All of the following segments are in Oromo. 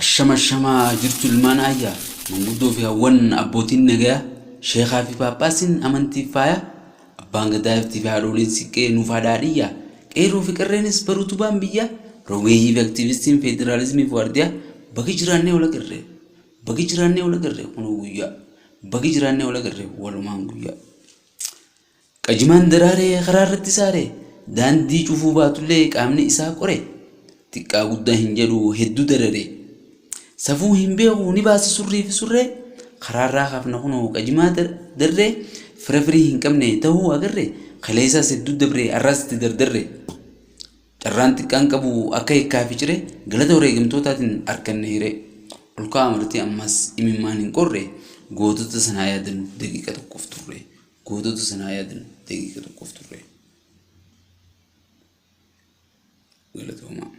Ashama ashama jirtu ilmaan ayya manguddoo fi hawwan abbootiin nagaya sheekaa fi paaphaasiin amantiif faaya abbaan gadaa iftii fi haadhooliin siqqee nuuf haadhaadhiyya qeerroo fi qerreenis baruu tubaan biyya rogeeyyii fi aktiivistiin feederaalizimii fi waardiyaa bagi jiraannee ola qirree bagi jiraannee ola qirree kunuu guyyaa bagi jiraannee ola qirree walumaan guyyaa. Qajimaan daraaree karaarratti saare, daandii cufuu baatullee qaamni isaa qore, xiqqaa guddaa hin jedhu hedduu darare. Safuu hin beeku ni baasa surrii fi surree, karaarraa kaafna kunoo qajimaa darree, fira firii hin qabne tahuu agarre, kaleesaas hedduu dabre har'aas itti dardarre. Carraan xiqqaan qabu akka hikkaa fi ciree, galata wareegamtootaatiin arkanne hiree. Ol ka'aa marti ammas imimmaan hin qorre, gootota sanaa yaadannu daqiiqa tokkoof turre. Gootota sana haa yaadnu daqiiqa tokkoof turre. Galatoomaa.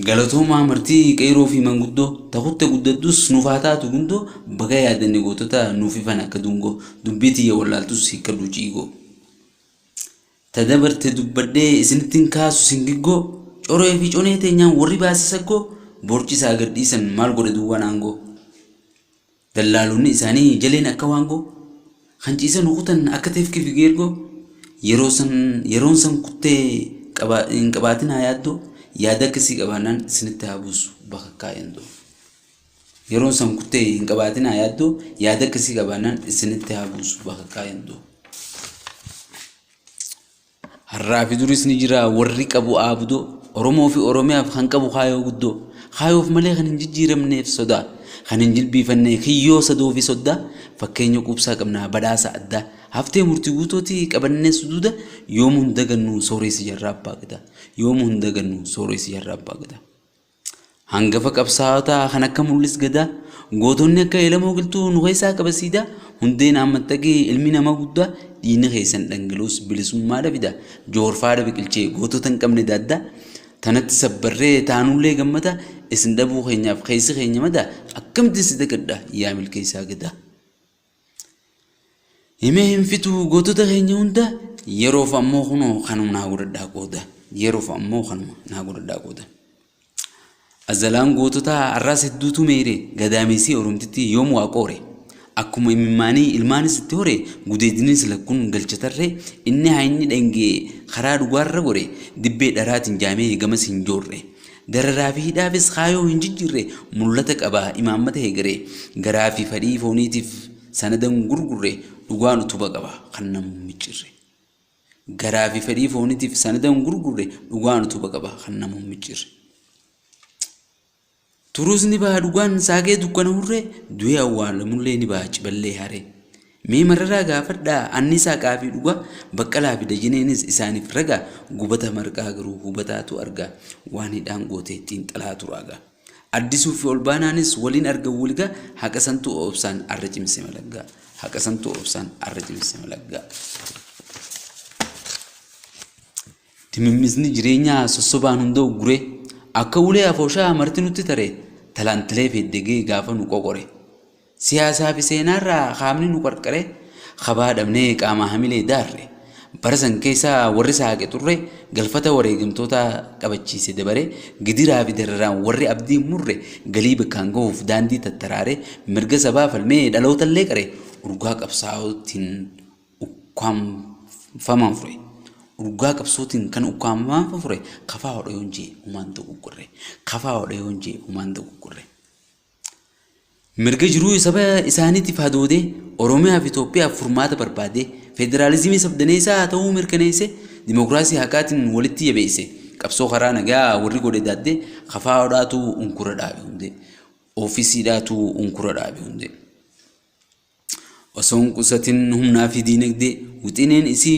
Galatoomaa martii qeeroo fi manguddoo takutte guddadhus nuuf haa taatu gundoo baga yaadanne gootota nuuf ifan akka dungoo dubbii tiyya wallaaltus hiikkadhu ciigoo. Ta dabarte dubbadhee isinittiin kaasu singiggoo coree fi conee teenyaan warri baase saggoo borcisaa gadhiisan maal godhe duwwaan aangoo. Dallaalonni isaanii jaleen akka waangoo, kan ciisanu kutan akka teefkii fi geergoo, yeroo san yeroon san kuttee qaba- hin qabaatinaa yaaddoo, yaada akkasii qabaannaan isinitti haa buusu bakakkaa yandoo. Yeroon san kuttee hin qabaatinaa yaaddoo, yaada akkasii qabaannaan isinitti haa buusu bakakkaa yandoo. Har'aafi duris ni jira warri qabu aabdoo, Oromoofi Oromiyaaf kan qabu kaayoo guddoo. Kaayoof malee kan hin jijjiiramneef sodaa, kan hin jilbiifanne kiyyoo sadoofi soddaa, fakkeenya quubsaa qabna badhaasa addaa, haftee murtii guutooti qabannee suduuda, yoomuu hin dagannu sooreessa jarraa abbaa Gadaa, yoomuu hin dagannu sooreessa jarraa abbaa Gadaa. Hangafa qabsaa'otaa kan akka Mul'is Gadaa, gootonni akka Elemoo Giltuu nu keessaa qaba siidaa, Hundee naan maxxaqi ilmi nama guddaa, dhiigni keessan dhangala'us bilisummaa dha fidaa, Johoor faada biqilchee gootota hin qabne daaddaa, tanatti sabbarree taanullee gammada, isin dhabuu keenyaaf keessi keenya madaa, akkamittin si dagadha yaa milkeessaa Gadaa. Himee hin fixu gootota keenya hunda yeroof ammoo kunoo kanuma naa godhadhaa qooda yeroof ammoo kanuma naa godhadhaa qooda. Azalaan goototaa har'aas hedduutu meeyre gadaameessii oromtitti yoom waa qoore. Akkuma imimmaanii ilmaanis itti hore gudeediniis lakkuun galcha tarre inni haayinni dhangee karaa dhugaarra gore dibbee dharaatiin jaamee gamas hin joorre. Dararaa fi hidhaafis kaayoo hin jijjiirre mul'ata qaba imaammata heegaree. Garaa fi fadhii fooniitiif sanada hin gurgurre dhugaan utuba qaba kan namu hin micciirre. Garaa fi fedhii fooniitiif sanada hin gurgurre dhugaan utuba qaba kan namu hin micciirre. Turuus ni baha dhugaan saakee dukkana hurree du'ee awwaalamullee ni baha ciballee haree. Mee Mararaa gaafadhaa, Anniisaa Qaafii dhugaa, Baqqalaa fi Dajaneenis isaaniif ragaa, Gubata Marqaa garuu hubataatu argaa, Waan hidhaan goote xiinxalaa turaa gaa. Addisuu fi Olbaanaanis waliin argan wulgaa, Haqa santu Obsaan arra cimse malaggaa, Haqa santu Obsaan arra cimse malaggaa. Dimimmisni jireenyaa sossobaan hunda'u gure, Akka ulee afooshaa marti nutti tare, Talaantilee feeddegee gaafa nu qoqore. Siyaasaa fi seenaa irraa qaamni nu qarqare kabaa dhabnee qaamaa hamilee daarre. Bara san keessa warri saaqe xurre galfata wareegamtootaa qabachiise dabare gidiraa fi dararaan warri abdii hin murre galii bakkaan gahuuf daandii tattaraare mirga sabaa falmee dhaloota illee qare urgaa qabsaa'ootiin ukkaamfamaan fure. Urgaa qabsootiin kan ukkaamfamaan fure kafaa hodha yoon jee humaan dogoggorre. Kafaa hodha yoon jee humaan dogoggorre. Mirga jiruu saba isaaniitiif hadoodee, Oromiyaa fi Itoophiyaaf furmaata barbaadee, federaalizimii sabdaneessaa haa ta'uu mirkaneessee, dimokiraasii haqaatiin walitti jabeessee, qabsoo karaa nagaa warri godhe daaddee, KFO dhaatu unkura dhaabe hundee. OFC dhaatu unkura dhaabe hundee. Osoo hin qusatin humnaa fi diinagdee, wixineen isii